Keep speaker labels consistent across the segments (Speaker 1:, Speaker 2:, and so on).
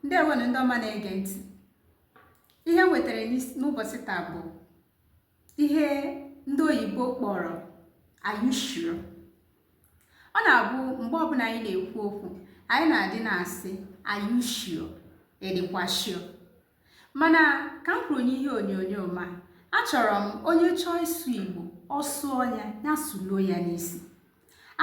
Speaker 1: ndewonụ ndị ọma na-ege ntị ihe m wetara n'is- n'ụbọchị taa bụ ihe ndị oyibo kpọrọ are you sure ọ na-abụ mgbe ọbụla anyị na-ekwu okwu anyị na-adị na-asị are you sure ị dịkwa sure mana ka m kwuru n'ihe onyonyo ma achọrọ m onye chọọ ịsụ igbo ọ sụọ ya ya sụluo ya n'isi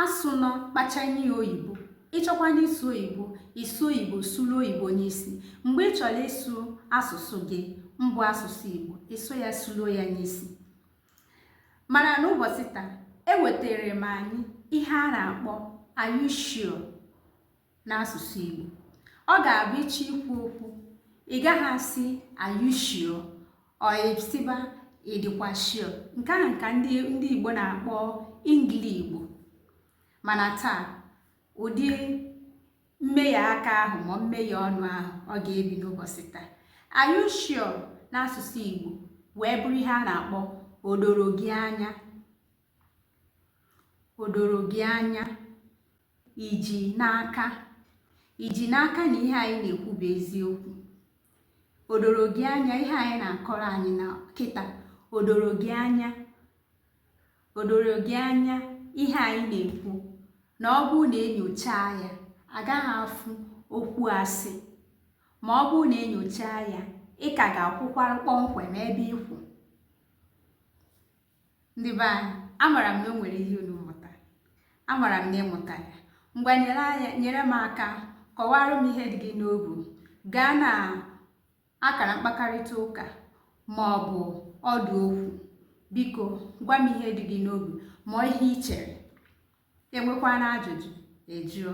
Speaker 1: asụ nọ kpachanye ya oyibo ị chọkwanụ ịsụ oyibo ị sụọ oyibo sụluo oyibo n'isi mgbe ị chọrọ ịsụ asụsụ gị mbụ asụsụ igbo ị sụọ ya sụluo ya n'isi mana n'ụbọchị taa ewetara m anyị ihe a na-akpọ are you sure? n'asụsụ Igbo ọ ga-abụ ị chọọ ikwu okwu ị gaghị asị are you sure or ị sịba ị dịkwa sure nke ahụ ka ndị ndị Igbo na-akpọ ingili Igbo mana taa ụdị mmehie aka ahụ ma mmehie ọnụ ahụ ọ ga-ebi n'ụbọchị taa are you sure n'asụsụ Igbo wee bụrụ ihe a na-akpọ o doro gị anya o doro gị anya i ji n'aka i ji n'aka na ihe anyị na-ekwu bụ eziokwu o doro gị anya ihe a ị na-akọrọ anyị na kịta o doro gị anya o doro gị anya ihe anyị na-ekwu na ọ bụrụ na e nyochaa ya a gaghị afụ okwu asị ma ọ bụrụ na e nyochaa ya ị ka ga-akwụkwara kpọmkwem ebe ị kwụ ndị be anyị amara m na o nwere ihe unu mụtara amara m na ị mụtara ngwa nyere m aka kọwara m ihe dị gị n'obu gaa na akara mkpakarịta ụka ma ọ bụ ọdụ okwu biko gwa m ihe dị gị n'obi ma ihe ị chere i nwekwanụ ajụjụ ị jụọ